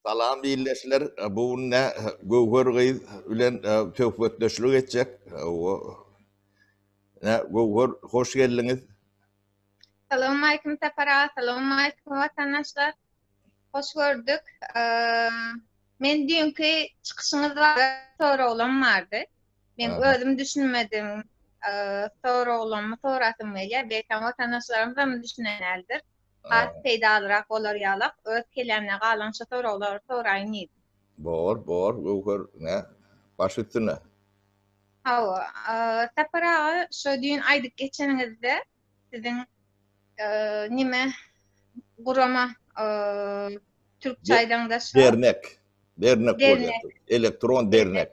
Salam ildeşler, bu günde Göwher gyz bilen söhbetdeşlik etjek. Göwher, hoş geldiňiz. Salowmaleýkim Sapar aga, salowmaleýkim watandaşlar. Hoş gördük. Men düýnki çykyşyňyz barada soraglarym bardy. Men özüm düşünmedim. Soraglarymy sorasym gelýär. Belki watandaşlarymyz hem düşünenlerdir. Has peýdalyrak bolar ýalak. Öz kellämde galan şu soraglary soraýyn diýdim. Bor, bor, göwher, ne? Baş üstüne. Hawa, Sapar aga, şo düýn aýdyp geçeniňizde, siziň nime gurama türkçe aýdaňda şo. Dernek. Dernek bolýar. Elektron dernek.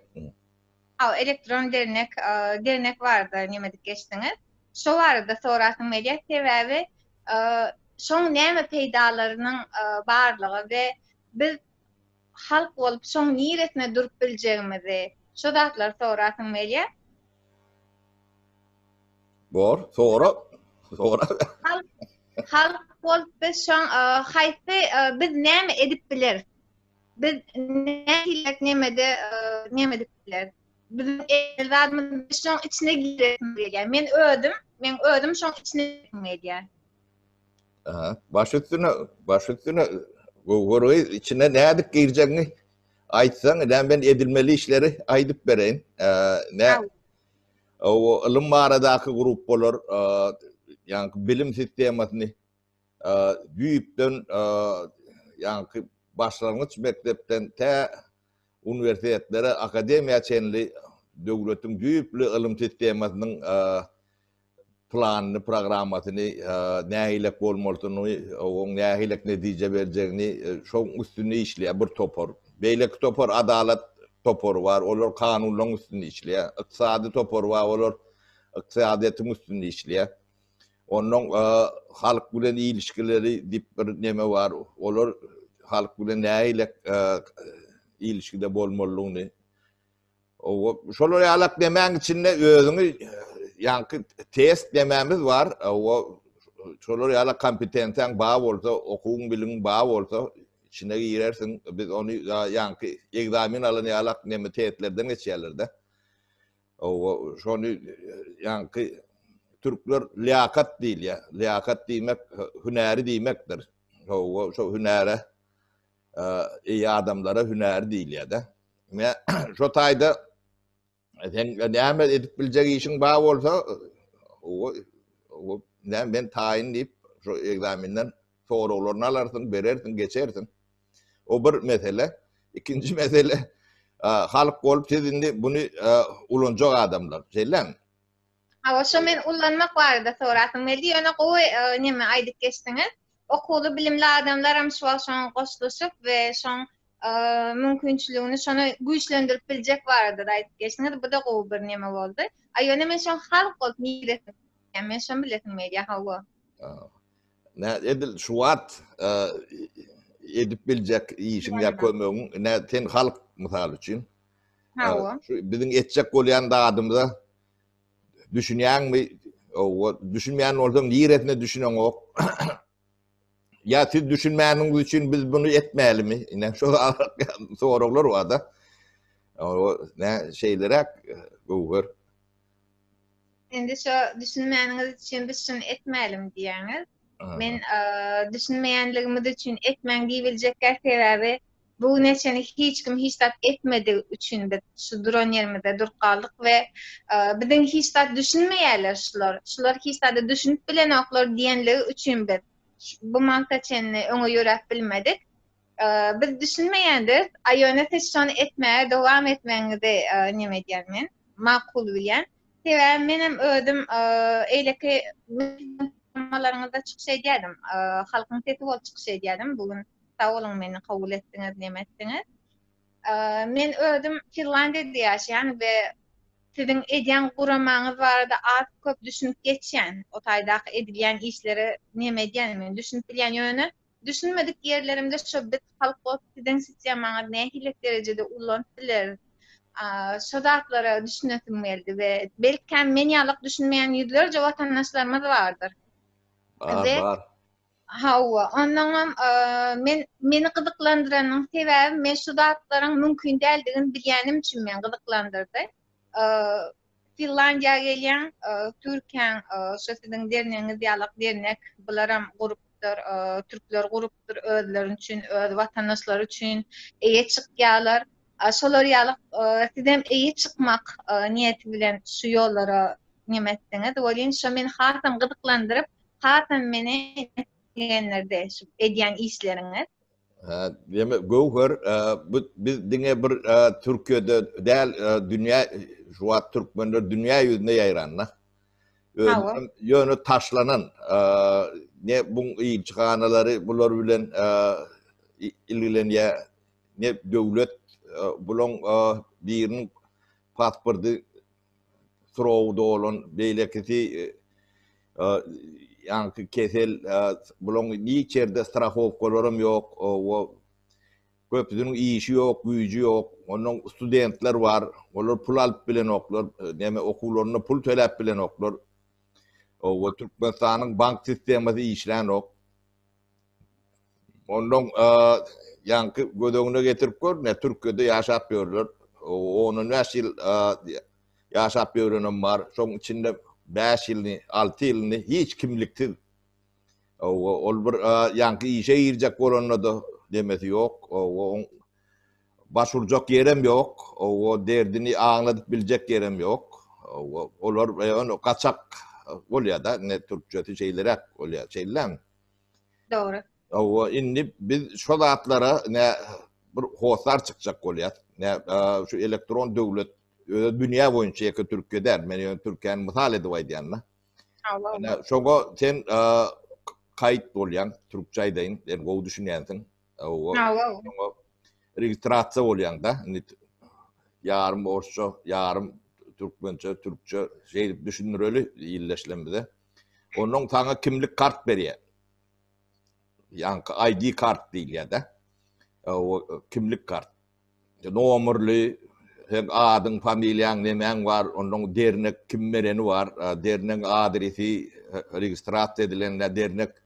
Hawa, elektron dernek, dernek barada nime edip geçdiňiz? Şo barada sorasym gelýär, sebäbi şoň näme peýdalarynyň barlygy we biz halk bolup şoň niresine durup biljegimizi şo zatlary sorasyň melýär. Bor, sora, sora. Halk, halk bolup biz şoň haýsy biz näme edip bileris? Biz nähilek nemede näme edip bileris? Biz erzadymyz şoň içine girip bileýär. Men özüm, men özüm şoň içine girip bileýär. Aha, baş üstüne, baş üstüne gowur gyz içine nädip girjegini aýtsaň, ýa men edilmeli işleri aýdyp bereýin. Ne? O ylym baradaky gruppalar, ýa-ni bilim sistemasyny düýpden, ýa-ni başlangyç mekdepden tä uniwersitetlere, akademiýa çenli döwletiň düýpli ylym sistemasynyň planyny, programmasyny nähilek bolmalydyny, oň nähilek netije berjegini şoň üstünde işleýär bir topar. Beýleki topar adalat topary bar, olar kanunlaryň üstünde işleýär. Ykdysady topar bar, olar ykdysadyýetiň üstünde işleýär. Ondan halk bilen ilişkileri diýip bir neme bar, olar halk bilen nähilek ilişkide bolmalydygyny Şol ýalak demäň içinde özüňi ýaňky test demämiz bar. Şolar ýalak kompetensiýaň ba bolsa, okuwyň biliň ba bolsa, içine girersiň. Biz ony ýaňky ekzamen alan ýalak neme testlerden geçýärlerde. Owa, şony ýaňky türkler liýakat diýilýär. Liýakat diýmek hünäri diýmekdir. Owa, şo hünäre Eý adamlara hünär diýilýär-de. Ine, şo taýda sen näme edip biljek işiň bar bolsa, owa, näme men taýyn diýip, şu ekzamenden soraglaryny alarsyň, berersiň, geçersiň. O bir mesele. Ikinji mesele, halk bolup siz indi buny ulanjak adamlar, şeýlemi? Hawa, şo men ullanmak barada sorasym geldi, ýöne gowy neme aýdyp geçdiňiz. Okuwly, bilimli adamlaram şu wagt şoňa goşulyşyp we şoň mümkinçiligini şony güýçlendirip biljek barada-da aýdyp geçdiňiz. Bu-da gowy bir neme boldy. A ýöne men şoň halk bolup niresi, men şony bilesim gelýär, hawa. Nä edil şu wagt edip biljek işiň ýa kömegiň, nä sen halk mysal üçin. Hawa. Şu biziň etjek bolýan zadymyza Düşünýäňmi? Owa, düşünmeýän bolsaň, niresine düşüneňok? Ýa siz düşünmäniňiz üçin biz bunu etmälimi? Ine şu soraglar wada. Owa, nä şeýleräk göwher. Indi şu düşünmäniňiz üçin biz şuny etmälim diýýäňiz. Men düşünmeýänligimiz üçin etmäň diýibiljek sebäbi Bu güne çenli hiç kim hiç zat etmedigi üçin biz şu duran ýerimizde durup galdyk we biziň hiç zat düşünmeýärler şular, şular hiç zada düşünip bilenoklar diýenligi üçin biz bu magta çenli öňe ýöräp bilmedik. Biz düşünmeýändiris, a ýöne siz şony etmäge dowam etmegiňizi neme edýän men, makul bilýän. Sebäbi menem özüm eýleki programmalaryňyzda çykyş edýärdim, Halkyň sesi bolup çykyş edýärdim. Bu gün Sag boluň meni kabul etdiňiz, neme etdiňiz. Men özüm Finlandiýada ýaşaýan we siziň edýän guramaňyz barada az köp düşünip geçýän. O taýdaky edilýän işlere neme edýänimi men düşünip bilýän. Ýöne düşünmedik ýerlerimde şo biz halk bolup siziň sistemaňyzy nähililik derejede ullanyp bileris? Şo zatlara düşünesim geldi we belkäm men ýalyk düşünmeýän ýüzlerje watandaşlarymyz bardyr. Bar, bar. Hawa, onnoňam men meni gyzyklandyranyň sebäbi men şu zatlaryň mümkin däldigini bilýänim üçin meni gyzyklandyrdy. Finlandiýa gelýäň, Türkiýäň şu siziň dernegiňiz ýalak dernek, bularam gurupdyr, türkler gurupdyr özleri üçin, öz watandaşlary üçin eýe çykýarlar. Şolar ýalak sizem eýe çykmak niýeti bilen şu ýollara neme etdiňiz? Welin, şo meni hasam gyzyklandyryp, hasam meni begendirdi şu edýän işleriňiz. Hä, diýme, Göwher, e, bu biz diňe bir e, Türkiýede däl, e, dünýä şu wagt türkmenler dünýä ýüzüne ýaýranda. Hawa. Ýöne taşlanan e, ne bu ilçihanalary bular bilen e, i- ilgilenýär, ne döwlet e, bulaň e, biriniň pasporty surowy dolan, beýlekisi ýaňky kesel, bularyň hiç ýerde strahowkalaram ýok, o köpüsiniň işi ýok, güýji ýok. Onnoň studentler bar, olar pul alyp bilenoklar, näme okuwlaryna pul töläp bilenoklar. Oba Türkmenistanyň bank sistemasy işlänok. Ondan ýaňky göz öňüne getirip gör, ne Türkiýede ýaşap ýörler. Ondan bäş ýyl ýaşap ýörenem bar. Şoň içinde bäş ýylyny, alty ýylyny hiç kimliksiz. Ol bir ýaňky işe girjek bolanda-da demesi ýok. Oň baş urjak ýerem ýok. O derdini aňladyp biljek ýerem ýok. Olar gaçak bolýar-da, ne türkçesi şeýleräk bolýar. Şeýlelämi? Dogry. Hawa, indi biz şu zatlara ne bir hossar çykjak bolýar. Ne şu elektron döwlet özi dünýä boýunça ýeke Türkiýe däl. Men ýöne Türkiýäni mysal edip aýdýan da. Hawa. Ne şoňa sen kaýt bolýan, türkçe aýdaýyn, sen gowy düşünýänsiň. Hawa. Hawa. Şoňa registrasiýa bolýan da. Indi ýarym orsça, ýarym türkmençe, türkçe şeýdip düşündireli illeşlemde. Ondan saňa kimlik kart berýär. Ýaňky ID kart diýilýär-de. O kimlik kart. Nomerli, sen adyň, familiýaň, nemäň bar, ondan dernek kim bereni bar, dernegiň adresi, registrasiýa edilende dernek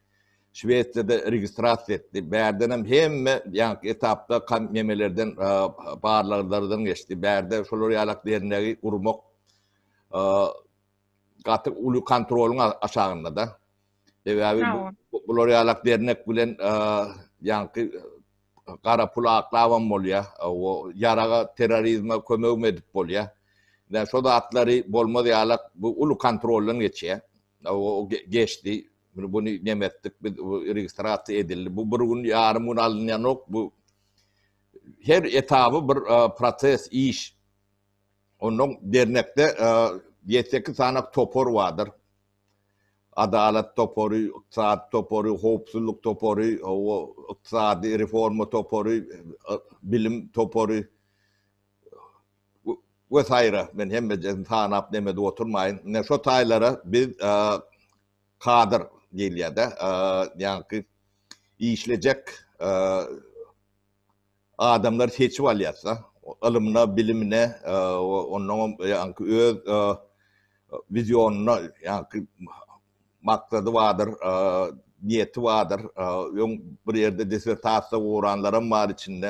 Şwesiýada registrasiýa etdi. Bärden hem hemme ýaňky etapda kan nemelerden barlaglardan geçdi. Bärde şolar ýalak dernegi gurmak gaty uly kontrolyň aşagyndada. Sebäbi bular ýalak dernek bilen ýaňky gara pul aklabam bolýar. O ýaraga terrorizme kömegim edip bolýar. Ýa şo zatlary bolmaz ýalak bu uly kontroldan geçýär. O geçdi. Bunu nemetdik biz registrasiýa edildi. Bu bir gün ýarym gün alynýanok. Bu her etaby bir proses iş. Onnoň dernekde ýedi sekiz sany topar bardyr. Adalat topary, ykdysady topary, howpsuzlyk topary, ykdysady reforma topary, bilim topary we saýra. Men hemmejesini sanap nem edip oturmaýyn. Ine şo taýlara biz kadr diýilýär-de, ýaňky işlejek adamlary seçip alýas-da. Ylymyna, bilimine, onnoňam ýaňky öz wizionyna, ýaňky maksady bardyr, niýeti bardyr. Öň bir ýerde dissertasiýa goranlaram bar içinde,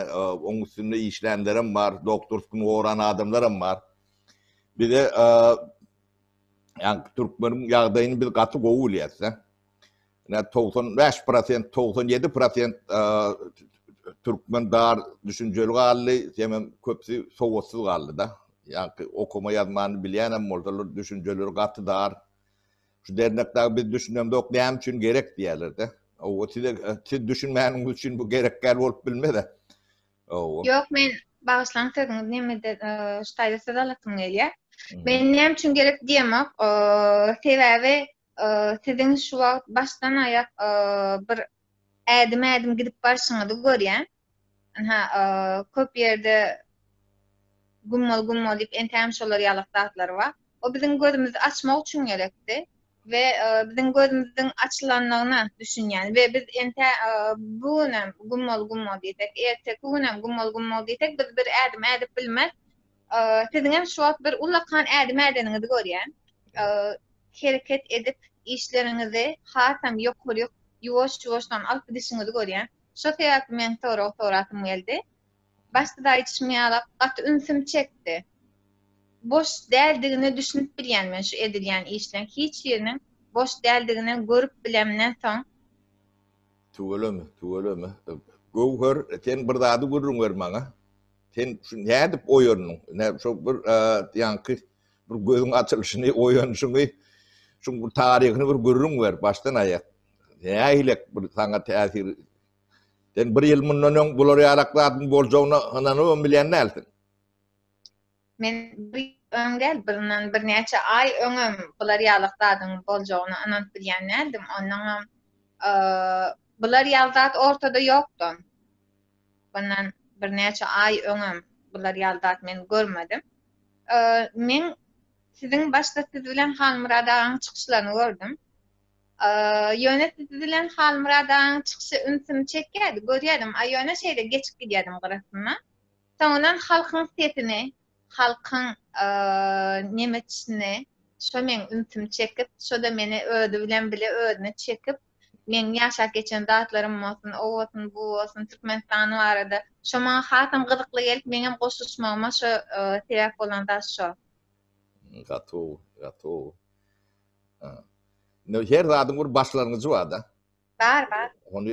oň üstünde işlänlerem bar, doktorskini goran adamlaram bar. Bize ýaňky türkmeniň ýagdaýyny biz gaty gowy bilýäs-de. Ine, togsan bäş prosent, togsan ýedi prosent türkmen dar düşünjeli galdy, hemem köpüsi sowatsyz galdy-da. Ýa-da okuma ýazmany bilýänem bolsalar, düşünjeleri gaty dar. Şu dernekde biz düşünemzok, näme üçin gerek diýerler-de. Owa, size siz düşünmäniňiz üçin bu gerek däl bolup bilmez-ä. Owa. Ýok, men bagyşlaň sözüňiz nämede ştaýda söz alasym gelýär. Men näme üçin gerek diýemok, sebäbi Siziň şu wagt başdan aýak bir ädim ädim gidip barşyňyzy görýän. Ynha köp ýerde gummal gummal diýip entägem şolar ýalak zatlar bar. O biziň gözümizi açmak üçin gerekdi we biziň gözümiziň açylandygyna düşünýän we biz entä bu günem gummal gummal diýsek erteki günem gummal gummal diýsek biz bir ädim ädip bilmez. Siziňem şu wagt bir ullakan ädim ädeniňizi görýän. Hereket edip, işleriňizi hasam ýokaryk, ýuwaş-ýuwaşdan alyp gidişiňizi görýän. Şo sebäpli men sorag sorasym geldi. Başda-da aýdyşym ýaly, gaty ünsüm çekdi. Boş däldigine düşünip bilýän men şu edilýän işleň. Hiç biriniň boş däldigine görüp bilemden soň. Tüweleme, tüweleme. Göwher, sen bir zady gürrüň ber maňa. Sen şu nädip oýandyň? Nä şu bir ýaňky bir gözüň açylyşyny, oýanyşyňy, şuň bir taryhyny bir gürrüň ber, başdan aýak. Nähilek bir saňa täsir Sen bir ýyl mundan öň bular ýarak zadyň boljagyna ynanybam bilýän dälsiň. Men bir öň däl, birden birnäçe aý öňem bular ýalyk zadyň boljagyna ynanyp bilýän däldim. Ondan hem bular ýaly zat ortada ýokdy. Bundan birnäçe aý öňem bular ýaly zat men görmedim. Men siziň başda siz bilen Halmyrat agaň çykyşlaryny gördüm. Ýöne siz bilen Halmyrat agaň çykyşy ünsümi çekýärdi, görýärdim, a ýöne şeýle geçip gidýärdim gyrasyndan. Soňundan halkyň sesini, halkyň neme çyny, şo meň ünsümi çekip, şo-da meni özi bilen bile özüne çekip, Meň ýaşap geçen zatlarym bolsun, o bolsun, bu bolsun, Türkmenistan barada. Şo maňa hasam gyzykly gelip, meňem goşuşmagyma şo sebäp bolan zat şo. Gatow, gatow. Indi her zadyň bir başlangyjy bar-da. Bar, bar. Ony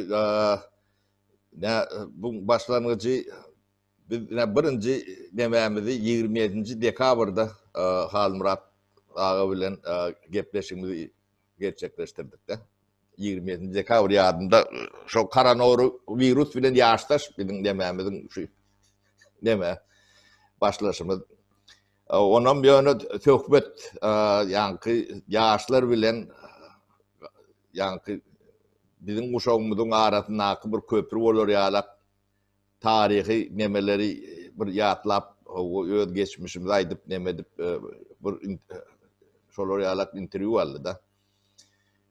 nä bu başlangyjy biz nä birinji nämämizi 27-nji dekabrda Halmyrat aga bilen gepleşigimizi gerçekleşdirdik-de. Ýigrimi ýedinji dekabr ýadymda şo koronoru wirus bilen ýaşdaş biziň nemämiziň şu neme başlaşymyz. Onam ýöne söhbet ýaňky ýaşlar bilen ýaňky biziň guşagymyzyň arasyndaky bir köpri bolar ýalak taryhy nemeleri bir ýatlap öz geçmişimizi aýdyp neme edip bir şolar ýalak interwýu aldy-da.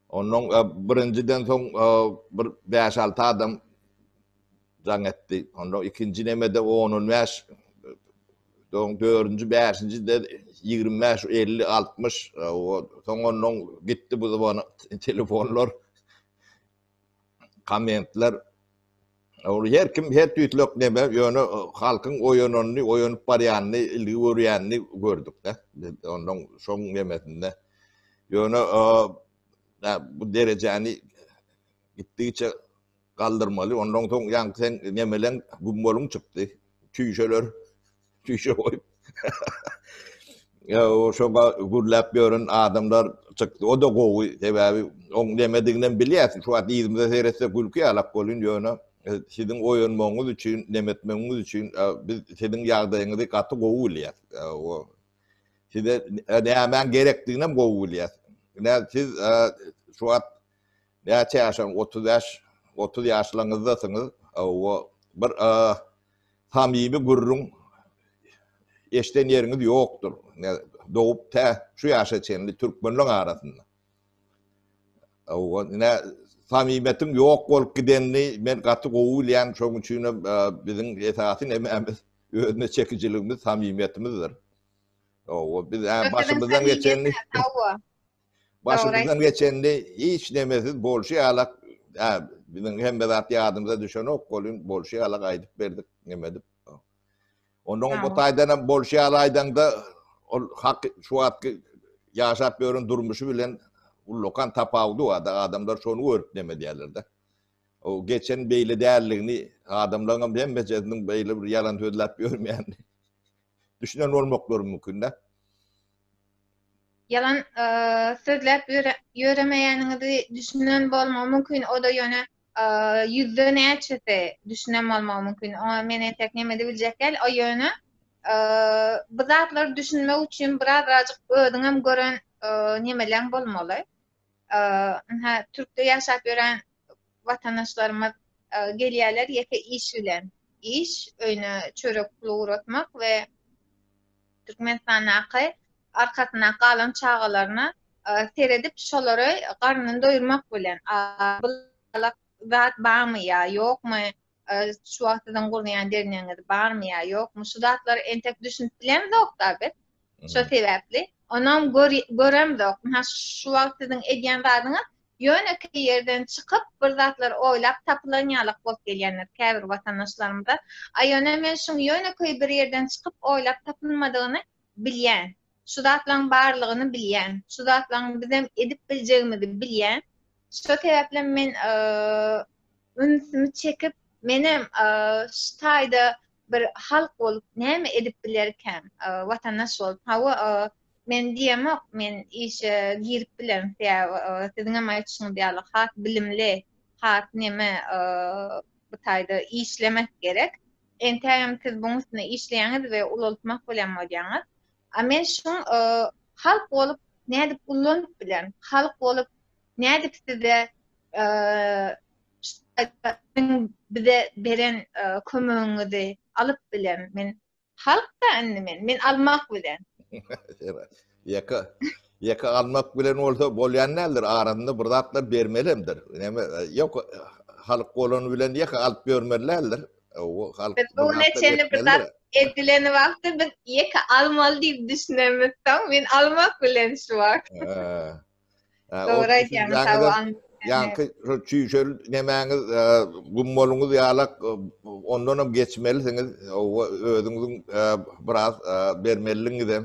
Ondan birinjiden soň bir 5-6 adam jaň etdi. Onda ikinji nemede 10-15 Soň dördünji, bäşinji de ýigrimi bäş, elli, altmyş, soň ondan gitdi bu zaman telefonlar. kommentler Ol her kim her tüýslek neme, ýöne e, halkyň oýananyny, oýanyp barýanyny, ilgi görýänini gördük-de. Biz ondan şoň nemesinde. Ýöne e, bu derejäni gitdigiçe galdyrmaly. Ondan soň ýaňky sen nemeleň gummalyň çykdy. Tüýşeler Tüýşe goýup. Ýa-o şoňa gürläp ýören adamlar çykdy. O-da gowy, sebäbi oň nemediginem bilýäs. Şu wagt yzymyza seýretsek gülki ýalak bolýn, ýöne siziň oýanmagyňyz üçin, nemetmegiňiz üçin biz siziň ýagdaýyňyzy gaty gowy bilýäs. Ýa-o size nämäň gerekdiginem gowy bilýäs. Ine siz şu wagt Näçe ýaşaň otuz bäş otuz ýaşlaňyzdasyňyz owo bir samimi gürrüň eşden ýeriňiz ýokdur dogup tä şu ýaşa çenli türkmenleň arasynda owo nä samimetiň ýok bolup gidenini men gaty gowy bilýän şoň üçin hem biziň esasy nemämiz özüne çekijiligimiz samimiýetimizdir owo biz ä başymyzdan geçenini Başymyzdan geçendi hiç nemesiz bolşy ýalak biziň hemme zat ýadymyza düşenok bolin bolşy ýalak aýdyp berdik nemedip. Ondan bu taýdan hem bolşy ýalak aýdaňda ol hak şu wagtky ýaşap ýören durmuşy bilen ullakan tapawudy bar da adamlar şony görüp neme diýerlerde. O geçen beýle däldigini adamlaryň hem hemmejesiniň beýle bir ýalan sözläp ýörmeýän düşünen bolmaklary mümkin-de. Ýalan sözläp ýöremeýäniňizi düşünen bolmagy mümkin, o-da ýöne ýüzde näçesi düşünen bolmagy mümkin, oňa men entek neme diýibiljek däl, o ýöne bu zatlary düşünmek üçin birazajyk özüňem gören nemeleň bolmaly. Ynha, Türkde ýaşap ýören watandaşlarymyz gelýärler ýeke iş bilen. Iş, öýüne çörek puly ugratmak we Türkmenistandaky arkasynda galan çagalaryna seredip, şolary garnyny doýurmak bilen. Zat barmy ýa ýokmy, şu wagt siziň gurnaýan derňeňiz barmy ýa ýokmy şu zatlara entek düşünip bilemzokda biz şo sebäpli onam göremzok ha şu wagt siziň edýän zadyňyz ýönekeý ýerden çykyp bir zatlar oýlap tapylan ýalyk bolup gelýändir käbir watandaşlarymyza a ýöne men şuň ýönekeý bir ýerden çykyp oýlap tapylmadygyny bilýän Şu zatlaryň barlygyny bilýän. Şu zatlaryň bizem edip biljegimizi bilýän. Şo sebäplem men ünsümi çekip, menem şu taýda bir halk bolup näme edip bilerkäm, watandaş bolup. Hawa, men diýemok, men işe girip bilerin, sebäbi siziňem aýtşyňyz ýaly has bilimli, has neme bu taýda işlemek gerek. Entägem siz buň üstünde işleýäňiz we ulaltmak bilen bolýaňyz. A men şuň halk bolup nädip gullanyp bilen? Halk bolup nädip size bize beren kömegiňizi alyp bilen? Men halk-da indi men. Men almak bilen. Ýeke, ýeke almak bilen bolsa bolýan däldir, arasynda bir zatlar bermeli hemdir. Näme, ýok, halk bolany bilen ýeke alyp ýörmeli däldir. O halk Biz bu neçeni bir zat edileni wagtda biz ýeke almaly diýip düşünemiz soň men almak bilen şu wagt. Dogry aýdýaň sag ol. Ýaňky şu çüýşel nemäňiz gummoluňyz ýalak ondanam geçmelisiňiz. Özüňiziň biraz bermeliligiňizem.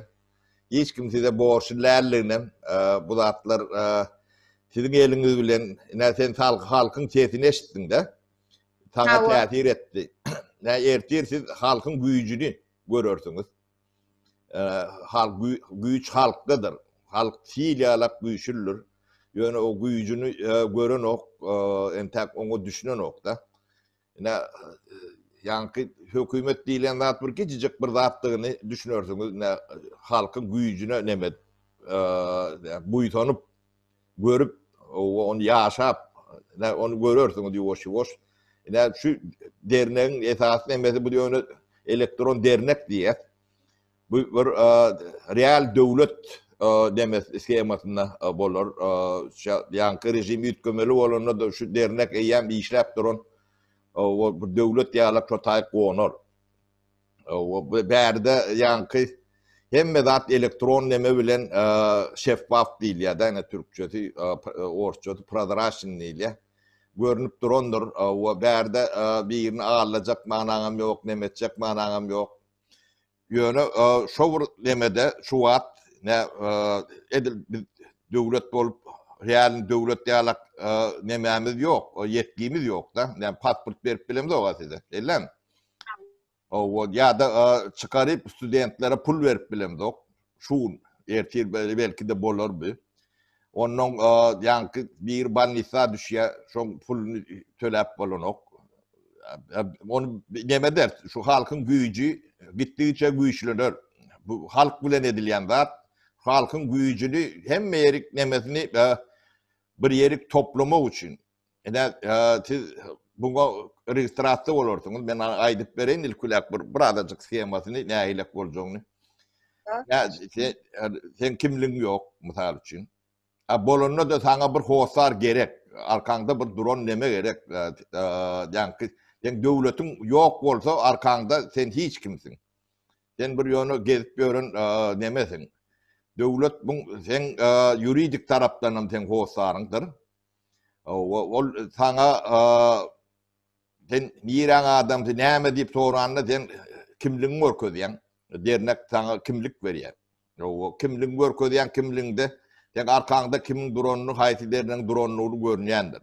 Hiç kim size borçly däldiginem bu zatlar siziň eliňiz bilen ine sen halkyň sesini eşitdiňde saňa täsir etdi. Nä ertir siz halkyň güýjüni görersiňiz. Halk güýç halkdadyr. Halk sil ýalak güýçlüdir. Ýöne o güýjüni görenok, entäk oňa düşünenok-da. Ine, ýaňky hökümet diýlen zat bir gijijik bir zatdygyny düşünersiňiz. Ine, halkyň güýjüne neme buýsanyp, görüp, ony ýaşap, ine, ony görersiňiz ýuwaş-ýuwaş. Ine, şu dernegiň esasy nemesi bu ýöne elektron dernek diýýär. Bu bir real döwlet nemes skemasynda bolar. Şu ýaňky režim üýtgemeli bolanda-da şu dernek eýýäm işläp duran bir döwlet ýaly şo taý gonar. Bärde ýaňky hemme zat elektron neme bilen şeffaf diýilýär-de, ine türkçesi, orsçasy prozraçnyý diýilýär. Görnüp durandyr we bärde birini aldajak manyňam ýok, neme etjek manyňam ýok. Ýöne şo bir nemede şu wagt ne edil biz döwlet bolup real döwlet ýalak nemämiz ýok, ýetgimiz ýokda. Näme pasport berip bilemizok-a size. Ellem. Owod ýa-da çykaryp studentlere pul berip bilemizok. Şu gün, ertir belki-de bolar bi. Onnoň ýaňky biri bolnisa düşýär, şoň puluny töläp bolanok. Ony näme eder? Şu halkyň güýji gitdigiçe güýçlener. Bu halk bilen edilýän zat. Halkyň güýjüni hemme ýerik nemesini bir ýerik toplamak üçin, Ine, siz buňa registrasiýa bolarsyňyz. Men aýdyp bereýin ilkilek bir bir azajyk schemasyny nähilek boljagyny. Ýa sen kimligiň ýok, mysal üçin. A bolanda da saňa bir hossar gerek. Arkaňda bir duran neme gerek. Ýa ki sen döwletiň ýok bolsa arkaňda sen hiç kimsiň. Sen bir ýöne gezip ýören nemesiň. Döwlet bu sen ýuridik tarapdan hem sen hossaryňdyr. Ol saňa sen niräň adamsy, näme diýip soranda sen kimligiňi görkezýäň. Dernek saňa kimlik berýär. Ýowa, kimligiňi görkezýäň, kimligiňde sen arkaňda kimiň duranyny, haýsy dernegiň duranyny görünýändir.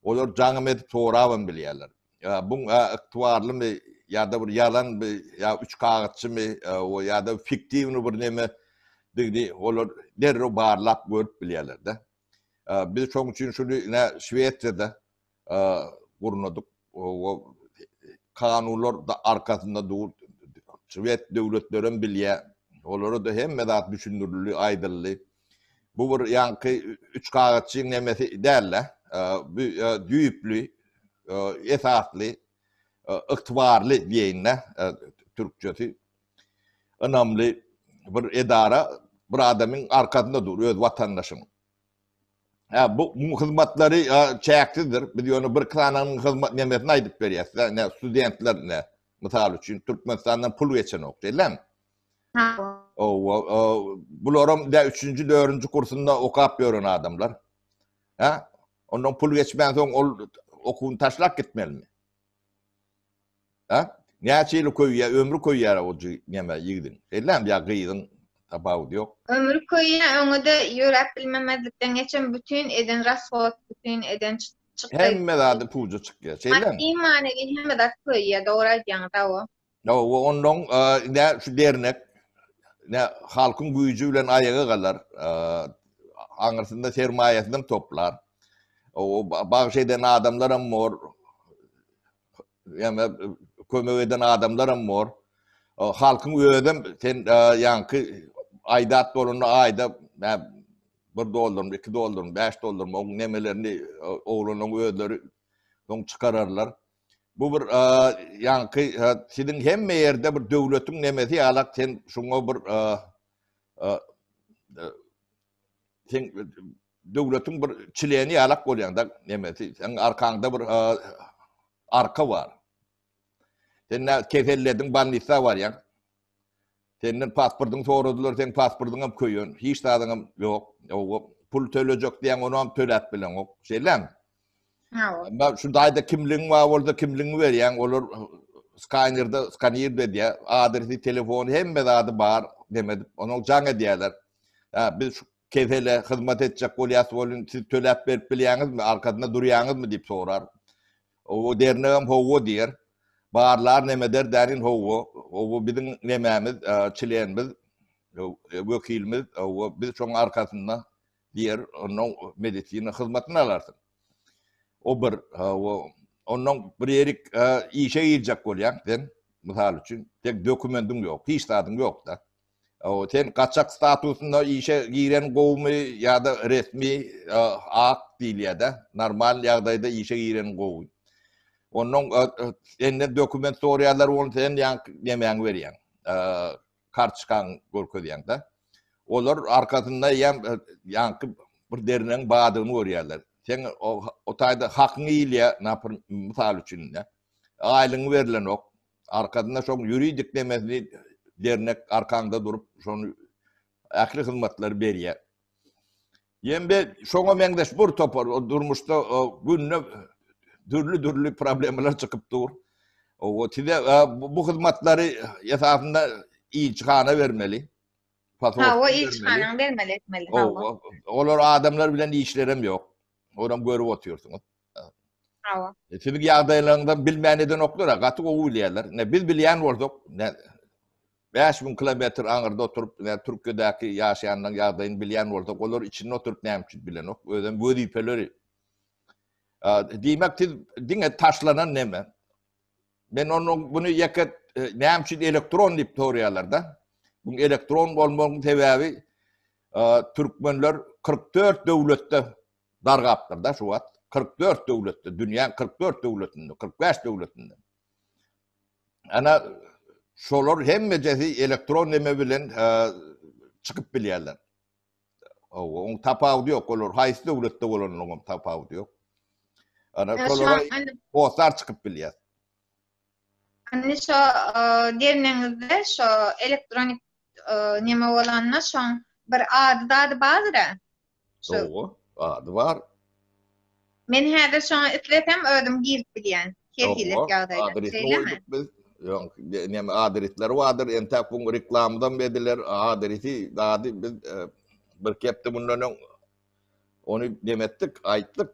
Olar jaňym edip sorabam bilýärler. Bu ykdybarlymy ýa-da bir ýalanmy, ýa üç kagyzçymy, ýa-da fiktiwny bir neme, olar derrew barlap görüp bilýärler-de. Biz şoň üçin şuny ine Şwesiýada gurnadyk. O kanunlar arkasynda dur. Şwes döwletleri hem bilýär. Olara da hemme zat düşündirildi, aýdyldy. Bu bir ýaňky üç kagyzçyň nemesi däl-de, bu düýpli, esasly, ygtybarly diýeýin-de türkçesi. ynamly bir edara bir adamyň arkasynda dur öz watandaşyň. Hä bu bu hyzmatlary çäksizdir. Biz ýöne bir iki sanyň hyzmat nemesini aýdyp berýäs. Ne studentler ne mysal üçin Türkmenistandan pul geçenok diýlem. Owa bularam da 3-nji 4-nji kursunda okap ýören adamlar. Hä? Ondan pul geçmän soň ol okuwyny taşlap gitmelimi? A? Näçe ýyly köýýär, ömri köýýär o neme ýigidiň. Şeýlemi ýa gyzyň, tapawudy ýok. Ömri köýýär, öňe-de ýöräp bilmemezlikden geçen bütin eden rasgod, bütin eden çykgaý. Hemme zady puja çykýar. Şeýlemi? Maddy-manewi hemme zat köýýär, dogry aýdýaňyz, hawa. Ýa we onnoň nä şu dernek nä halkyň güýji bilen aýaga galar, aňyrsynda sermaýasyny toplar. O bagş eden adamlar hem bor. Ýa-da kömek eden adamlar hem bor. Halkyň özi hem sen ýaňky aýdat bolanda aýda bir dollarmy, iki dollarmy, bäş dollarmy oň nemelerini oglanyň özleri soň çykararlar. Bu bir ýaňky siziň hemme ýerde bir döwletiň nemesi ýalak sen şuňa bir sen döwletiň bir çileni ýalak bolýanda nemesi sen arkaňda bir arka bar. Sen kesellediň, bannissa barýaň. Senden pasportyňy soradylar, seň pasportyňam köýen, hiç zadyňam ýok. Owa, pul tölejek diýen, onam töläp bileňok. Şeýlemi? Hawa. Şu daýda kimligiň bar bolsa, kimligiňi berýäň, olar skanerde skanir edýär, adresi, telefony, hemme zady bar, demedip, onuň jaň edýärler. Biz Kesele hyzmat etjek bolýas welin, siz töläp berip bilýäňizmi, arkasynda durýaňyzmy? diýip sorar. O dernegem hawa diýer. Barlar nemeder dänin hawa, hawa biziň nemämiz, çlenimiz, wekilimiz, hawa biz şoň arkasynda diýer. Onnoň medisina hyzmatyny alarsyň. O bir, hawa onnoň bir ýerik işe girjek bolýaň sen, mysal üçin, tek dokumendiň ýok, hiç zadyň ýok-da. Sen gaçak statusynda işe giren gowumy ýa-da resmi ak diýilýär-de, normal ýagdaýda işe giren gowy. Onnoň senden dokument sorýarlar, ony sen ýaňky nemäňi berýäň, kartoçkaňy görkezýäň-de. Olar arkasynda eýýäm ýaňky bir derňeň bardygyny görýärler. Seň o taýda hakyňy iýilýär, mysal üçin-de, aýlygyň berlenok, Arkasynda şoň ýuridik demesli dernek arkaňda durup, şony ähli hyzmatlary berýär. Ýembe şoňa meňzeş bir topar durmuşda günde dürli-dürli problemalar çykyp dur. O size bu hyzmatlary esasynda ilçihana bermeli. Ha, o ilçihana bermeli etmeli. Olar adamlar bilen işlerem ýok. Olam görüp otyrsyňyz. Hawa. E, siziň ýagdaýlaryňyzdan bilmän edenoklar, gaty gowy bilýärler. Ne biz bilýän bolsak, ne 5000 kilometr aňyrda oturyp, ne Türkiýedäki ýaşaýanlaryň ýagdaýyny bilýän bolsak, olar içinde oturyp näme üçin bilenok? Özem wezipeleri. Diýmek, siz diňe taşlanan neme? Men onuň bunu ýeke e, näme üçin elektron diýip soraýarlar-da. Bu elektron bolmagyň sebäbi türkmenler 44 döwletde dargapdyrda şu wagt kyrk dört döwletde dünýäň kyrk dört döwletinde kyrk bäş döwletinde ana şolar hemmejesi elektron neme bilen çykyp bilýärler owa oň tapawudy ýok olar haýsy döwletde bolanlygyň tapawudy ýok ana şolara postar çykyp bilýär Indi şo gelneňizde şo elektronik neme bolanda şoň bir ady zady bardyr-a. Dogry, ady bar. Men häzir şoňa islesem özüm girip bilýän. Her hili ýagdaýda. Adresini goýduk biz. Ýok, neme adresleri bardyr. Entäk bu reklamdan bediler adresi zady biz bir hepde mundan öň Ony demetdik, aýtdyk.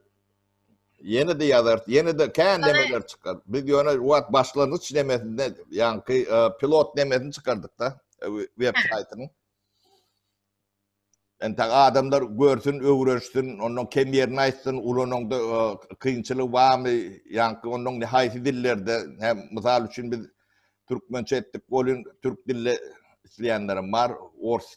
Ýene-de ýazarys, ýene-de kän demeler çykar. Biz ýöne wagt başlangyç demesinde, ýaňky e, pilot demesini çykardyk-da e, web saýtynyň. Ente adamlar görsün, öwrensin, ondan kem ýerini aýtsyn, ulananda e, kynçylygy barmy, ýaňky ondan haýsy dillerde, hem mysal üçin biz türkmençe etdik, bolun türk dilli isleýänlerim bar, ors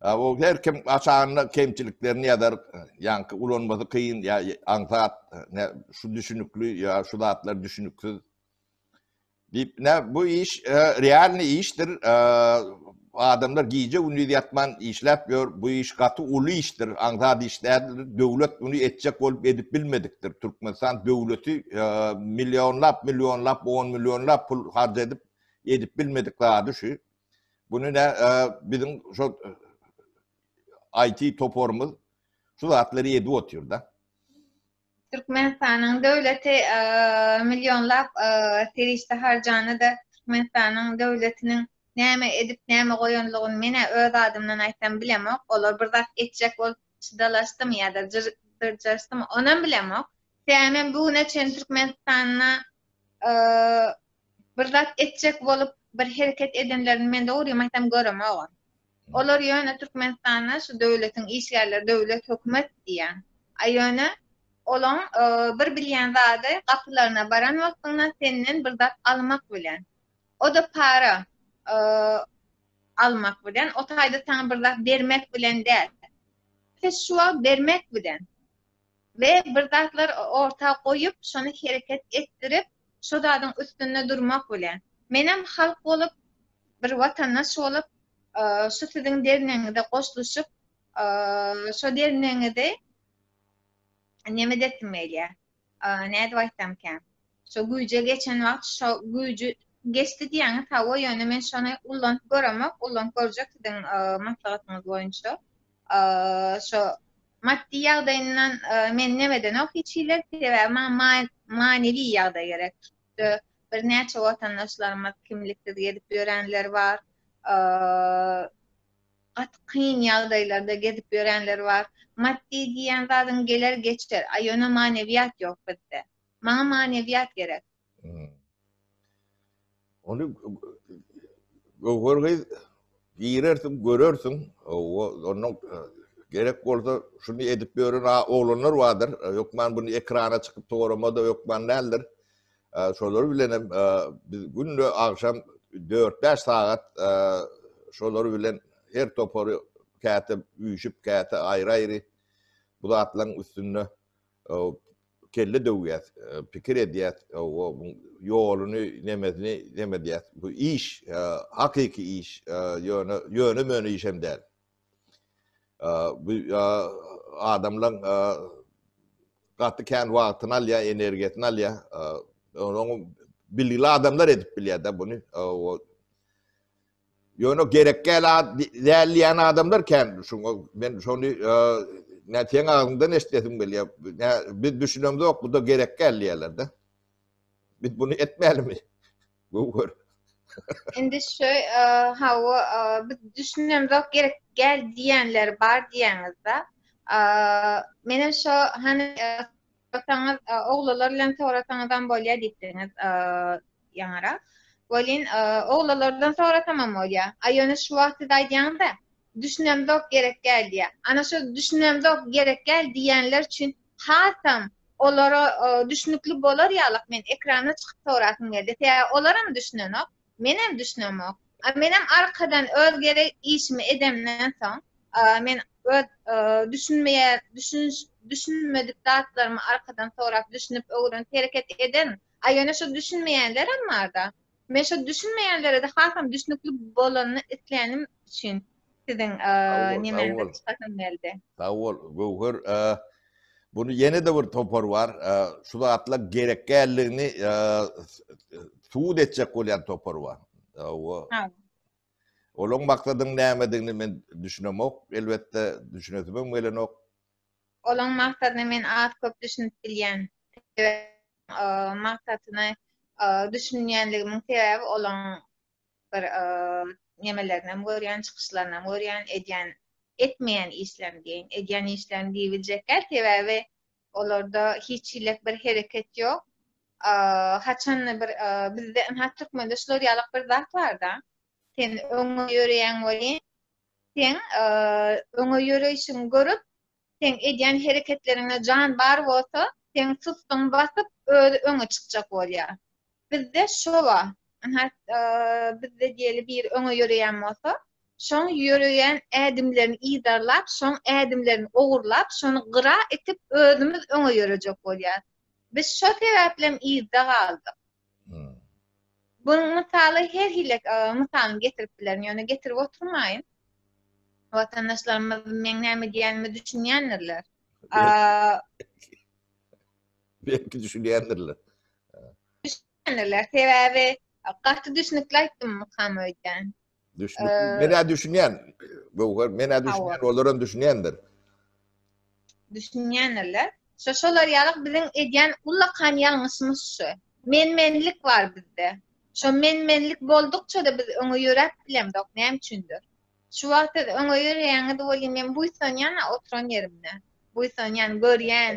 Abo her kim aşanda kemçiliklerini ýazar, ýaňky ulanmasy kyn ýa aňsat, nä şu düşünikli ýa şu zatlar düşüniksiz. Diýip, nä bu iş realny işdir, adamlar gije gündiz ýatman işläp ýör, bu iş gaty uly işdir, aňsat iş däldir, döwlet muny etjek bolup edip bilmedikdir, Türkmenistan döwleti millionlap millionlap on millionlap pul harç edip, edip bilmedik zady şu. Bunu ne bizim şu IT toparymız şu zatları edip otyr da. Türkmenistanyň döwleti millionlap serişde harjany da Türkmenistanyň döwletiniň näme edip näme goýanlygyny men öz adymdan aýtsam bilemok. Olar bir zat etjek bolup çydalaşdym ýa-da dyrjaşdym, onam bilemok. Sebäbi men bu güne çenli Türkmenistanda bir zat etjek bolup bir hereket edenlerini men dogrymy aýtsam göremogam. Olar ýöne Türkmenistanda şu döwletiň işgärleri, döwlet, hökümet diýýän. A ýöne olaň bir bilýän zady gapylaryna baran wagtyňda senden bir zat almak bilen. O-da para almak bilen, o taýda saňa bir zat bermek bilen däl. Şu wagt bermek bilen. we bir zatlar orta goýup, şony hereket etdirip, şo zadyň üstünde durmak bilen. Menem halk bolup, bir watandaş bolup, şu siziň dernegiňize goşluşyp, şo dernegiňizi nemedesim gelýär, nädip aýtsamkä, Şo güýje geçen wagt şo güýji geçdi diýýäňiz hawa ýöne men şony ullanyp göremok ullanyp görjek siziň maslahatyňyz boýunça şo maddy ýagdaýyndan men nemedenok hiç hili sebäbi maňa manewi ýagdaý gerek birnäçe watandaşlarymyz kimliksiz gezip ýörenler bar gaty kyn ýagdaýlarda gezip ýörenler bar maddy diýýän zadyň geler geçer a ýöne manewiýat ýok bizde Maňa manewiyat gerek. Ony Göwher gyz girersiň, görersiň. Owa, onda gerek bolsa şuny edip ýören oglanlar bardyr. Hökman buny ekrana çykyp soramada hökman däldir. Şolar bilen hem biz günde agşam 4-5 sagat şolar bilen her topary käte üýşüp, käte aýry-aýry bu zatlaryň üstünde kelle döwýäs, pikir edýäs, ýoluny, nemesini nem edýäs. Bu iş, hakyky iş, ýöne ýöne-möne iş hem däl. Bu adamlaryň gaty kän wagtyny alýar, energiýasyny alýar. Onuň bilgili adamlar edip bilýär-de buny. Ýöne gerek däl diýen adamlar kändir. Şoňa men şony nä seň agzyňdan eşidesim gelýär. Nä biz düşünemzok, bu-da gerek däl diýerler-de. Biz bunu etmälimi? Göwher. Indi şu hawa biz düşünemzok, gerek däl diýenler bar diýäňiz-de. Menem şu hany Sorasaňyz, oglalar bilen sorasaňyzam bolýar diýipdiňiz ýaňara. Welin, oglalardan sorasamam bolýar. A ýöne şu wagt siz aýdýaňyz-da, düşünemzok, gerek däl diýýär. Ana şu düşünemzok, gerek däl diýýänler üçin hasam olara düşünikli bolar ýalyk men ekrana çykyp sorasym geldi. Sebäbi olaram düşünenok. Menem düşünemok. Menem arkadan öz gerek işimi edemden soň, men öz düşünmeýän, düşünş, düşünmedik zatlarymy arkadan sorap, düşünip, öwrenip hereket eden. A ýöne şu düşünmeýänlerem barda. Men şu düşünmeýänlere-de hasam düşünikli bolanyny islenim üçin siziň nemäňize çykasym geldi. Sag bol, Göwher. Bunu ýene-de bir topar bar. Şu zatla gerek däldigini subut etjek bolýan topar bar. Hawa. Olaň maksadyň nämedigini men düşünemok. Elbetde düşünesim hem gelenok. Olaň maksadyny men az köp düşünip bilýän. Sebäbi maksadyny düşünýänligimiň sebäbi olaň bir nemelerinem görýän, çykyşlarynam görýän, edýän, etmeýän işlerini diýeýin. Edýän işlerini diýip biljekkäl, sebäbi olarda hiç hilek bir hereket ýok. Haçanda bir bizde ynha türkmende şular ýalak bir zat bar-da. Sen öňe ýöreýäň welin, sen öňe ýöreýşiňi görüp, Seň edýän hereketleriňde jan bar bolsa, seň sustuň basyp, özi öňe çykjak bolýar. Bizde şo-a, ynha, bizde diýeli biri öňe ýöreýän bolsa, şoň ýöreýän ädimlerini yzarlap, şoň ädimlerini ogurlap, şony gyra itip, özümiz öňe ýörejek bolýarys. Biz şo sebäplem yzda galdyk. Bunuň mysaly her hili mysalyny getirip bilerin, ýöne getirip oturmaýyn. Watandaşlarymyz meň näme diýenimi düşünýändirler. Belki düşünýändirler. Düşünýändirler, sebäbi gaty düşnükli aýtdym mukam öýdýän. Düşünüp, ee, menä düşünýän. Göwher, menä düşünýän, olar hem düşünýändir. Düşünýändirler. Şo şolar ýalyk biziň edýän ullakan ýalňyşymyz şu. Men-menlik bar bizde. Şo men-menlik boldukça-da biz öňe ýöräp bilemzok, näme üçindir. Şu wagt siz öňe ýöreýäňiz welin men buýsanýan oturan ýerimde. Buýsanýan, görýän.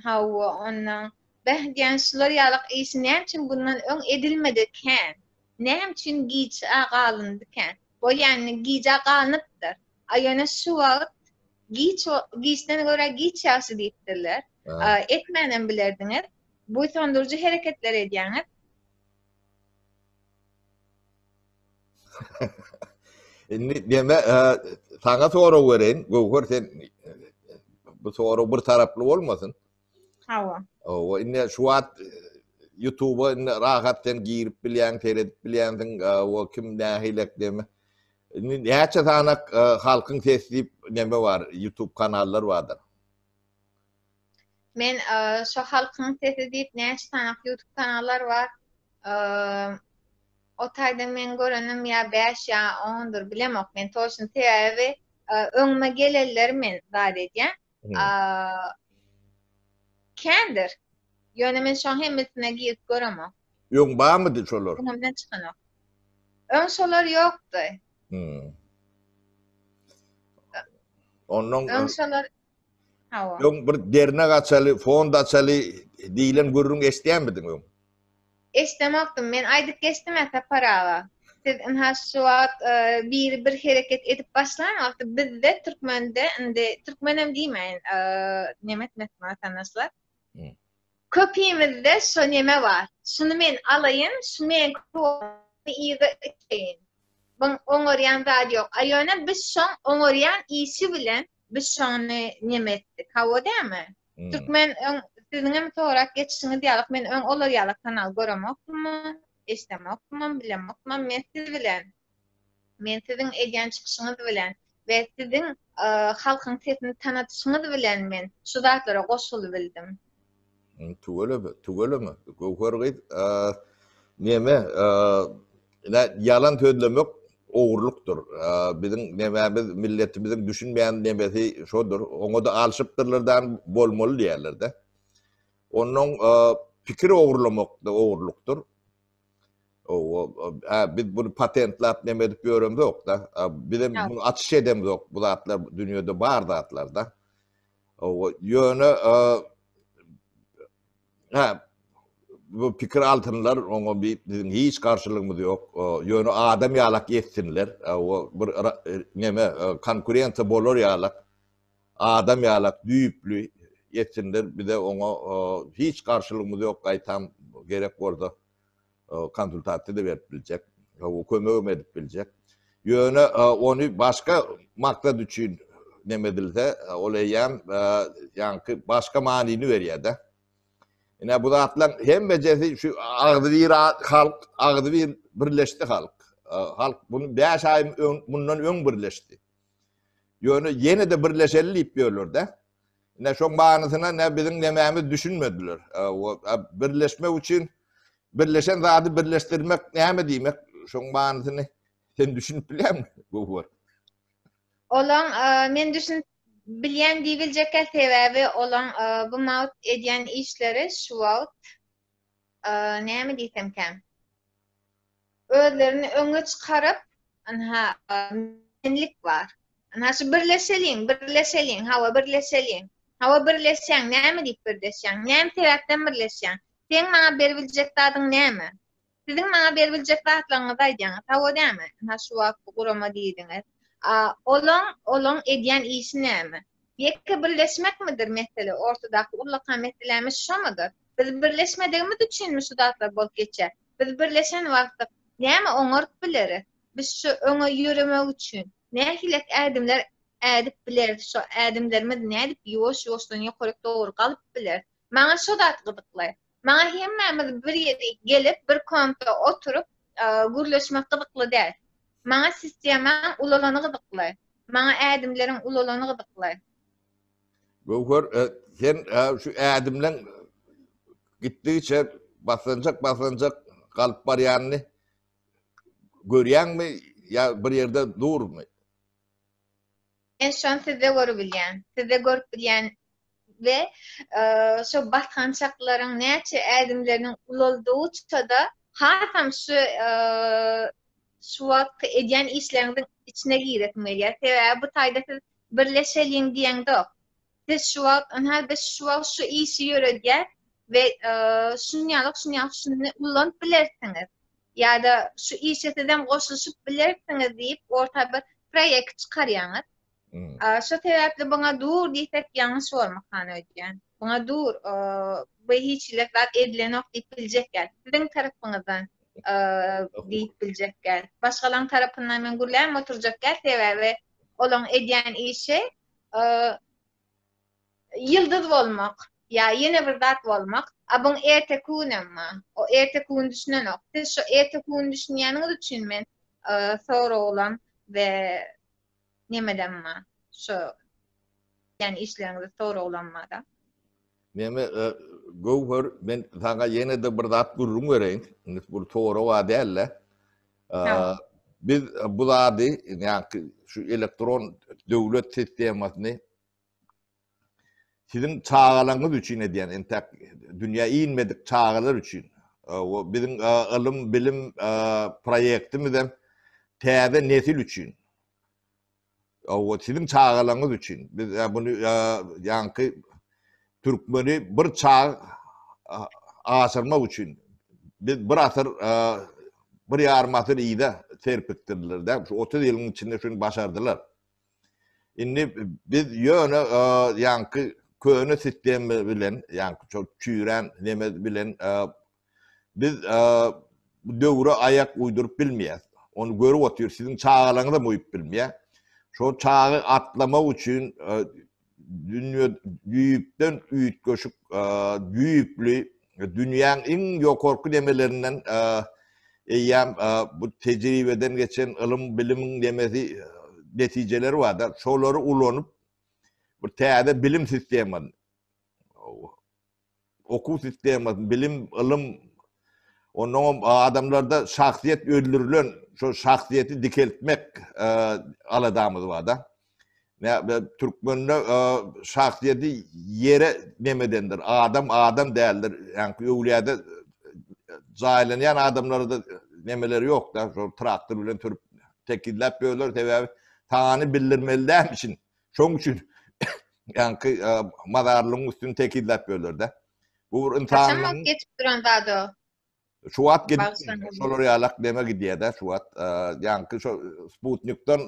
Hawa, ondan. Bäh diýen şular ýalyk işi näme üçin bundan öň edilmedi kän. Näme üçin giç-ä galyndykä? Bolýany, gijä galnypdyr. A ýöne şu wagt giç, giçden görä giç ýagşy diýipdirler. Etmänem bilerdiňiz. Buýsandyryjy hereketler edýäňiz. Indi näme, saňa sorag bereýin. Göwher, sen bu sorag bir taraply bolmasyn? Hawa. Hawa, indi şu wagt YouTube-a indi rahat sen girip bilýäň, seredip bilýänsiň, o kim nähilek deme. Indi näçe sanak halkyň sesi diýip neme bar, YouTube kanallar bardyr. Men şu halkyň sesi diýip näçe sanak YouTube kanallar bar. O taýda men görenim ýa 5 ýa 10-dur bilemok men toşun sebäbi öňüme gelenleri men zat edýän. Kendir. Ýöne men şoň hemmesine girip göremok. Ýoň barmydy şolar? Öňümden çykanok. Öň şolar ýokdy. Ondan öň şolar Hawa. Öň bir dernek açaly, fond açaly diýlen gürrüň eşitýänmidiň öň? Eşdemokdym. Men aýdyp geçdim-ä Sapar aga. Siz ynha şu wagt biri bir hereket edip başlan wagty bizde türkmende indi türkmenem diýmäýin nemes mesme watandaşlar. Köpimizde şo neme bar. Şuny men alaýyn, şu meňki bolsun yza iteýin. Buň oňarýan zady ýok. A ýöne biz şoň oňarýan işi bilen biz şony neme etdik. Hawa dämi? Hmm. Türkmen öň siziň hem sorak geçişiňiz ýalyk men öň olar ýaly kanal göremokdym, eşitemokdym, bilemokdym. Men siz bilen men siziň edýän çykyşyňyz bilen we siziň e, halkyň sesini tanatyşyňyz bilen men şu zatlara goşulyp bildim. Hmm, tüweleme, tüweleme. Göwher gyz, e, neme, e, Ine, ýalan sözlemek ogurlykdyr. Biziň nemämiz, milletimiziň düşünmeýän nemesi şodur. Oňa-da alşypdyrlar dan bolmaly diýerler-de. Onnoň pikir ogurlamak-da ogurlykdyr. Hä, biz buny patentlap neme edip ýöremzok-da. Bizem muny açyş edemzok. Bu zatlar dünýede bar zatlar-da. Ýöne Hä, bu pikir altynlar, oňa biziň hiç garşylygymyz ýok. Ýöne adam ýalak etsinler, bir neme, konkurensiýa bolar ýalak, adam ýalak düýpli etsinler, bize oňa hiç garşylygymyz ýok, gaýtam, gerek bolsa. konsultasiýa-da berip biljek, kömegem edip biljek. Ýöne ony başga maksat üçin neme edilse, ol eýýäm ýaňky başga manyny berýär-de. Ine bu zatlaryň hemmejesi şu agzybir halk, agzybir birleşdi halk. Halk bunu 5 aý mundan öň birleşdi. Ýöne ýene-de birleşeli diýip ýörler-de. Ne şoň manysyna ne biziň nemämiz düşünmediler. Birleşmek üçin birleşen zady birleşdirmek näme diýmek? Şoň manysyny sen düşünip bilýäňmi? Gowur. Olaň men düşünip bilýän diýibiljekkä sebäbi olaň bu mawt edýän işleri şu wagt näme diýsemkä, özlerini öňe çykaryp, ynha, menlik bar. Ynha, şu birleşeliň, birleşeliň, hawa, birleşeliň. Hawa, birleşýäň, näme diýip birleşýäň? Näme sebäpden birleşýäň? Seň maňa beribiljek zadyň näme? Siziň maňa beribiljek zatlaryňyzy aýdýaňyz, hawa dämi? Ynha şu wagt bu gurama diýdiňiz. A olaň, olaň edýän işi näme? Ýeke birleşmekmidir mesele, ortadaky ullakan meselemiz şomudyr? Biz birleşmedigimiz üçinmi şu zatlar bolup geçýär? Biz birleşen wagtdyk, näme oňaryp bileris? Biz şu öňe ýöremek üçin, nähilek ädimler ädip bileris, şo ädimlerimiz nädip ýuwaş-ýuwaşdan ýokaryk dogry galyp bileris? Maňa şo zat gyzykly. Maňa hemmämiz bir ýere gelip, bir kompda oturyp, gürleşmek gyzykly däl. Maňa sistemaň ulalany gyzykly. Maňa ädimleriň ulalany gyzykly. Göwher, sen şu ädimleň gitdigiçe basganjak-basganjak galyp barýanyny görýäňmi ýa bir ýerde durmy? Men şony sizde görübilýän. Sizde görüp bilýän we şo basgançaklaryň näçe ädimleriniň ulaldygyça-da hasam şu şu wagtky edýän işleriňiziň içine giresim gelýär. Sebäbi bu taýda siz birleşeliň diýeňzok. Biz şu wagt, ynha, biz şu wagt şu işi ýöredýäs we şunýalyk, şunýalyk şuny ullanyp bilersiňiz ýa-da şu işe sizem goşulyşyp bilersiňiz diýip orta bir proýekt çykarýaňyz. Şo sebäpli buňa dur diýsek ýalňyş bolmakan öýdýän. Buňa dur, bu hiç hili zat edilenok diýip biljekler. Siziň tarapyňyzdan diýip biljekler. Başgalaň tarapyndan men gürläp oturjak sebäbi olaň edýän işi ýyldyz bolmak ýa ýene bir zat bolmak abyň erteki günem bar o erteki gün düşünenok siz şu erteki gün düşünýäniňiz üçin men soraglam we nemedem bar şu işleriňizi soraglam bar-da. Meme Göwher men saňa ýene-de bir zat gürrüň bereýin. Indi bu sorawa däl-de. Biz bu zady, ýagny şu elektron döwlet sistemasyny siziň çagalaryňyz üçin edýän, entäk dünýä inmedik çagalar üçin. O biziň ylym, bilim proýektimiz hem täze nesil üçin. Hawa, siziň çagalaryňyz üçin. Biz ýa muny ýa ýaňky türkmeni bir çag aşyrmak üçin biz bir asyr bir ýarym asyr yza serpikdirdiler dä. Şu 30 ýylyň içinde şuny başardylar. Indi biz ýöne ýaňky köne sistema bilen, ýaňky çüýrän neme bilen Biz bu döwre aýak uýduryp bilmeýäs. Ony görüp otyr, siziň çagalaryňyzam uýup bilmeýär. Şol çaga atlamak üçin dünýe düýpden üýtgeşik düýpli dünýäň iň ýokarky nemelerinden eýýäm bu tejribeden geçen ylym-bilimiň nemesi netijeleri barda, şolary ulanyp bir täze bilim sistemany Okuw sistemasyny, bilim, ylym, onnoňam adamlarda şahsyýet öldürilen, şo şahsyýeti dikeltmek aladamyz bar-da. Türkmende şahsyýeti ýere nemedendir, adam adam däldir. Ýaňky öwlüýäde jaýlanýan adamlarda nemeler ýok-da, şo traktor bilen sürüp tekizläp ýörler, sebäbi sany bildirmeli dälmişin. Şoň üçin ýaňky mazarlygyň üstüni tekizläp ýörler-de. Bu bir ynsan. Kaçan wagt geçip duran zat o? Şu wagt gidip, şolar ýalak deme gidýär-de şu wagt. Ýaňky şo Sputnikden,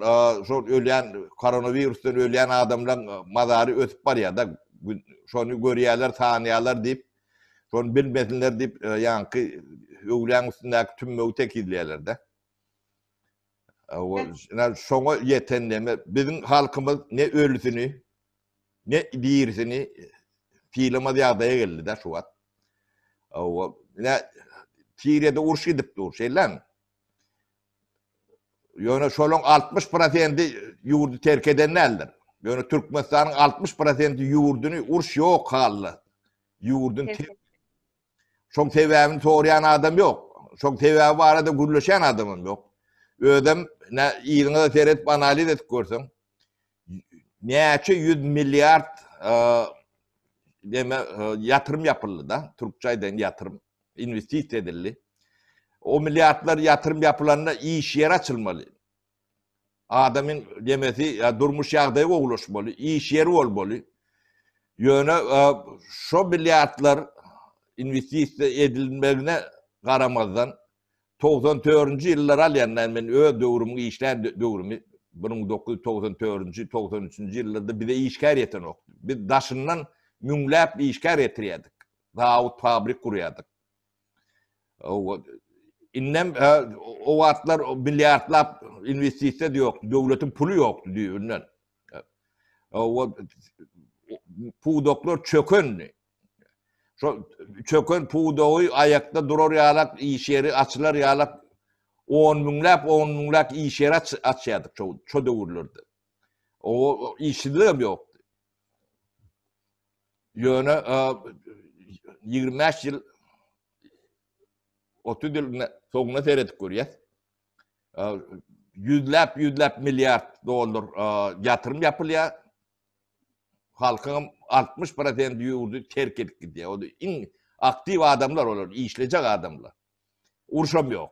şo ölýän koronawirusdan ölýän adamlaryň mazary ösüp barýar-da. Şony görýärler, tanýarlar diýip, şony bilmesinler diýip, ýaňky öwläň üstündäki tümmegi tekizleýärler-de. Şoňa ýetendeme biziň halkymyz ne ölüsini, ne dirisini sylamaz ýagdaýa geldi-de şu wagt. Ine, Siriýada uruş gidip dur, şeýlemi? Ýöne şolaryň 60 prosenti ýurdy terk eden däldir. Ýöne Türkmenistanyň 60 prosenti ýurduny uruş ýok halda. Ýurdun Şoň sebäbini soraýan adam ýok. Şoň sebäbi barada gürleşen adamym ýok. Özüm ne ýygyňyza seret analiz edip görseň. Näçe 100 milliard e, deme e, ýatyrym ýapyldy da, türkçe aýdan ýatyrym, investisiýa edildi. O milliardlar ýatyrym ýapylanda iş ýeri açylmaly. Adamyň demesi ýa durmuş ýagdaýy gowulaşmaly, iş ýeri bolmaly. Ýöne şo milliardlar inwestisiýa edilmegine garamazdan, togsan törünji ýyllary alýanda, men öz döwrümiň işlän döwrümi, bir müň dokuz ýüz togsan törünji, togsan üçünji ýyllarda bize işgär ýetenokdy. Biz daşyndan müňläp işgär getirýärdik. Zawod, fabrik gurýardyk. Indem o wagtlar milliardlap inwestisiýa ýok, döwletiň puly ýokdy düýbünden. Pudaklar çökendi. Şo çöken pudagy aýakda durar ýalak iş ýeri açylar ýalak on müňläp, on müňläp iş ýeri açýardyk şo şo döwürlerde. O işsizligem ýokdy. Ýöne ýigrimi bäş ýyl, otuz ýyl soňuna seredip görýäs. Ýüzläp, ýüzläp milliard dollar ýatyrym ýapylýar. Halkyň altmyş prosenti ýurdy terk edip gidýär. Ol iň aktiw adamlar olar, işlejek adamlar. Urşam ýok.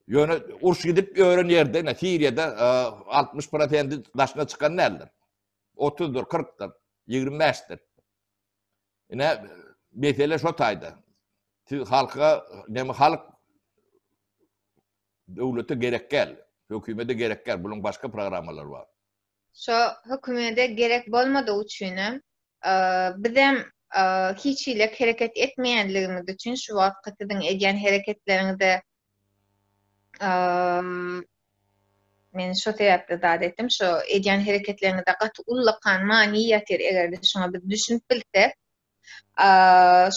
Ýöne uruş gidip ýören ýerde, Siriýada altmyş prosenti daşyna çykan däldir. Otuzdyr, kyrkdyr, ýigrimi bäşdir. Ine, mesele şo taýda. Siz halka, näme halk döwlete gerek gel, hökümede gerek gel, buluň başga programmalary bar. Şo hökümede gerek bolmadygy üçinem, bizem hiç hile kereket etmeýänligimiz üçin şu wagtky siziň edýän hereketleriňize Men şo sebäpli zat etdim, şo edýän hereketleriňizde gaty ullakan many ýatyr, eger-de şoňa biz düşünip bilsek.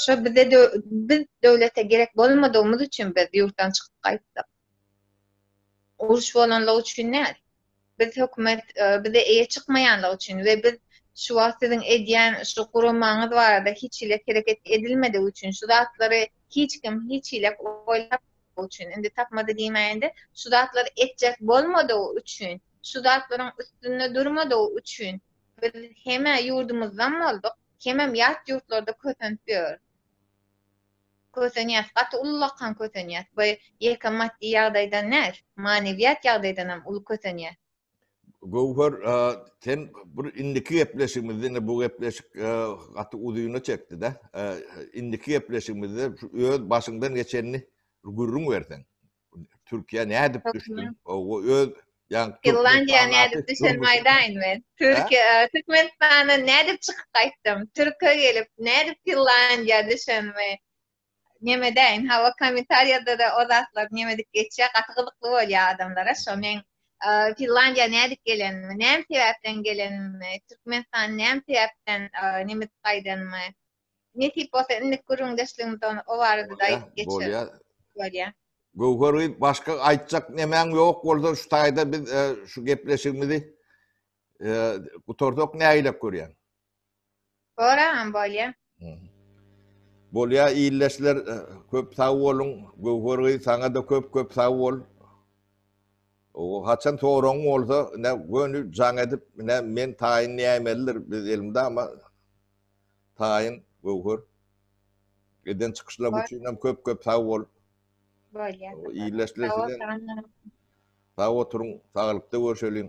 Şo bize biz döwlete gerek bolmadygymyz üçin biz ýurtdan çykyp gaýtdyk. Uruş bolanlygy üçin däl. Biz hökümet bize eýe çykmaýanlygy üçin we biz şu wagt siziň edýän şu guramaňyz barada hiç hili hereket edilmedigi üçin şu zatlary hiç kim hiç hili oýlap üçin indi tapmady diýmäýende şu zatlary etjek bolmadygy üçin şu zatlaryň üstünde durmadygy üçin biz hemä ýurdumyzdan bolduk hemem ýat ýurtlarda kösenip ýör. Kösenýäs, gaty ullakan kösenýäs. By ýeke maddy ýagdaýdan däl, manywiýat ýagdaýdanam uly kösenýäs. Göwher, sen bir indiki gepleşigimiz diňe bu gepleşik gaty uzyna çekdi-dä. Indiki gepleşigimizde şu öz başyňdan geçenini gürrüň berseň. Türkiye ne edip Çok düştün? güzel. O öz yani Finlandiýa nädip düşenim aýdaýyn men. Türkiýe, e, Türkmenistandan nädip çykyp gaýtdym? Türkiýe gelip nädip Finlandiýa düşenimi nemedäýin. Hawa, kommentariýada-da o zatlar nemedik geçýär, gaty gyzykly bolýar adamlara. Şo men e, Finlandiýa nädip gelenimi, näme sebäpden gelenimi, Türkmenistan näme sebäpden e, nemedik gaýdanymy Nesip bolsa indik gürrüňdeşligimizi on o barada-da aýdyp geçeris. Bolýa. Bolýa. Göwher gyz başga aýtjak nemäň ýok bolsa şu taýda biz e, şu gepleşigimizi e, gutarsak nägilek görýän. Boram bolýa. Bolýa illeşler e, köp sag boluň. Göwher gyz saňa da köp köp sag bol. O haçan soraň bolsa ne göni jaň edip ne men taýyn nämelidir biz elimde ama Taýyn Göwher eden çykyşlaň üçin hem köp köp sag bol. Bolýa. Ýyleşler size. Sag oturyň, saglykda görşeliň.